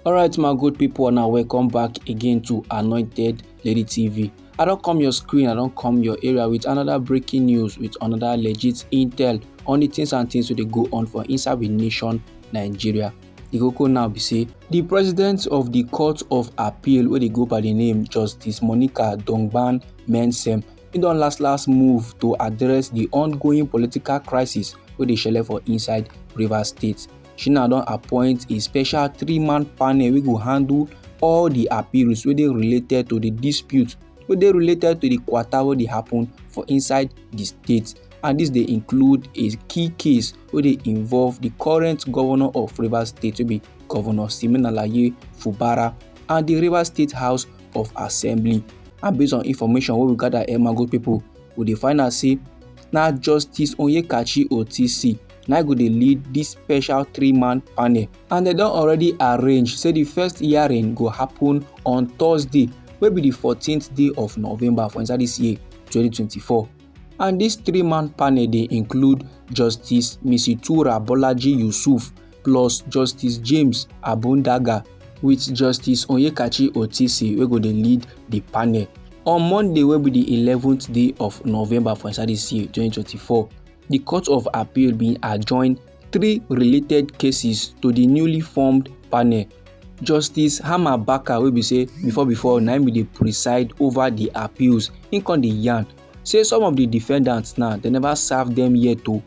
alright my good people now welcome back again to anointed lady tv i don't come your screen i don't come your area with another breaking news with another legit intel on the things and things wey dey go on for inside with nation nigeria the koko now be say the president of the court of appeal where they go by the name justice monica dongban mensem He don last last move to address the ongoing political crisis wey dey shele for inside Rivers State. Shina don appoint a special three-man panel wey go handle all the appeals wey dey related to the dispute wey dey related to the kwata wey dey happen for inside the state and this dey include a key case wey dey involve the current governor of Rivers State wey be Governor Siminalayi Fubara and the Rivers State House of assembly and based on information wey we gather emago people we dey find out say na justice onyekachi otisi na go dey lead dis special three-man panel and dem don already arrange say di first hearing go happen on thursday wey be di 14th day of november for inside dis year 2024 and dis three-man panel dey include justice misitura bolaji yusuf plus justice james abondaga wit justice onyekachi otisi wey go dey lead di panel on monday wey be di eleventh day of november for inside dis year twenty twenty four di court of appeal bin adjourn three related cases to di newly formed panel justice hama baka wey be say before before na im bin dey preside over di appeals im come dey yarn say some of di defendants now dem never serve dem yet o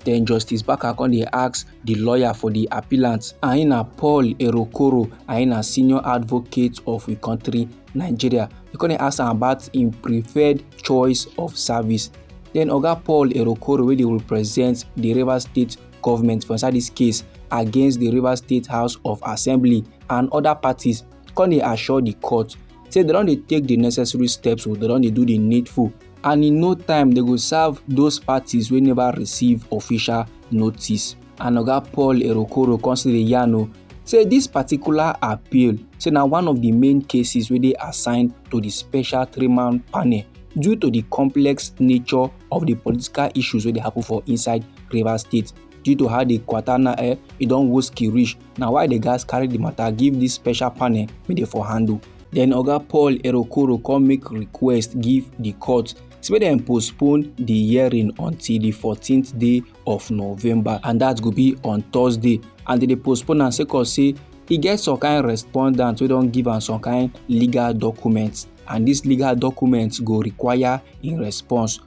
den justice baka come dey ask di lawyer for di appellant aina paul erokoro aina senior advocate of we country nigeria e come dey ask am about im preferred choice of service den oga paul erokoro wey dey represent di rivers state government for inside dis case against di rivers state house of assembly and oda parties come dey assure di court say dem don dey take di necessary steps o oh, dem don dey do di needful and in no time dem go serve those parties wey never receive official notice and oga paul erokoro come still dey yarn o oh, say dis particular appeal say na one of di main cases wey dey assigned to di special three-man panel due to di complex nature of di political issues wey dey happen for inside rivers state due to how di kwatana eh e don woski reach na why the gas carry the matter give this special panel make dem for handle then oga paul erokoro come make request give the court say make dem postpone the hearing until the 14th day of november and that go be on thursday and dem dey postpone am sake of say e get some kind respondent wey don give am some kind legal documents and this legal documents go require im response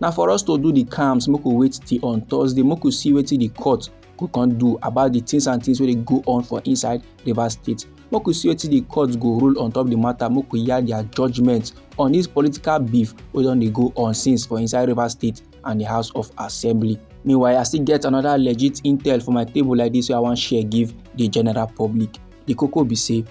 na for us to do the cams make we wait till on thursday make we see wetin the court go come do about the things and things wey dey go on for inside rivers state make we see wetin the court go rule on top the matter make we hear their judgement on this political beef wey don dey go on since for inside rivers state and the house of assembly meanwhile i still get another legit intel for my table like this wey i wan share give the general public the koko be say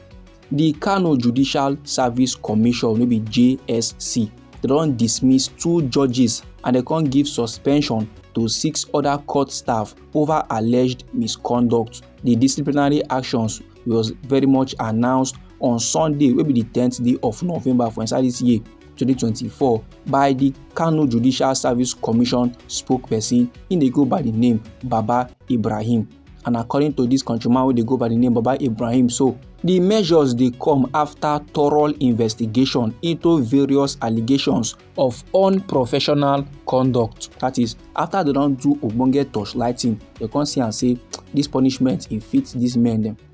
di kano judicial service commission wey be jsc dem don dismiss two judges and dem come give suspension to six other court staff over alleged misconduct di disciplinary actions was very much announced on sunday wey be di tenth day of november for inside dis year 2024 by di kano judicial service commission spokesperson im dey go by di name baba ibrahim and according to this countryman wey dey go by the name baba ibrahim so the measures dey come after thorough investigation into various allegations of unprofessional conduct that is after they don do ogbonge torchlighting they come see am say this punishment e fit these men dem.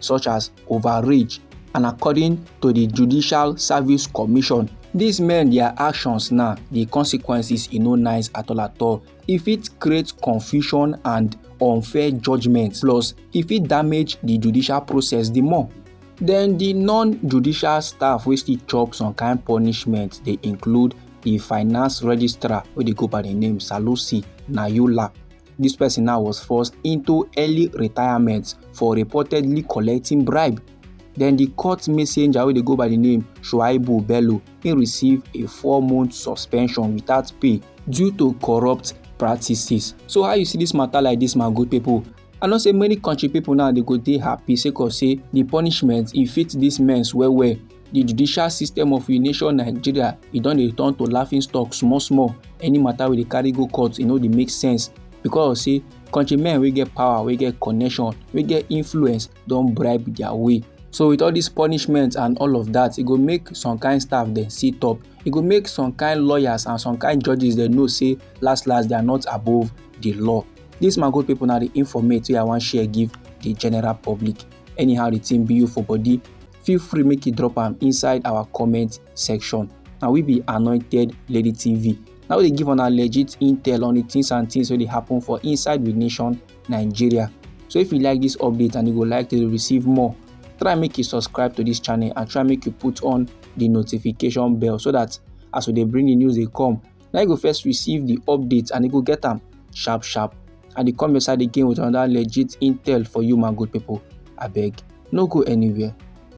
such as overreach and according to di judicial service commission dis men dia actions na di consequences e no nice at all at all e fit create confusion and unfair judgement plus e fit damage di judicial process di more den di non-judicial staff wey still chop some kain punishment dey include di finance registrar wey dey go by di name salusi nayola This person now was forced into early retirement for reportedly collecting bribe. Then the court messenger wey dey go by the name Shuaibu Bello, he receive a four-month suspension without pay due to corrupt practices. So how you see this matter like this, my good people? I know say many country people now they go dey happy sake of say the punishment e fit these men well well the judicial system of a nation nigeria e don dey turn to laughing stock small small any matter wey dey carry go court e no dey make sense because say countrymen wey get power wey get connection wey get influence don bribe their way so with all this punishment and all of that e go make some kind staff dem sit up e go make some kind lawyers and some kind judges dem know say last last they are not above the law this my good people na the informate wey i wan share give the general public anyhow the thing be you for body feel free make you drop am inside our comment section na we be anointed lady tv na we dey give una legit intel on the things and things wey dey happen for inside the nation nigeria so if you like this update and you go like to receive more try make you subscribe to this channel and try make you put on the notification bell so that as we dey bring the news dey come na you go first receive the update and you go get am sharp sharp and e come your side again with another legit intel for you my good people abeg no go anywhere.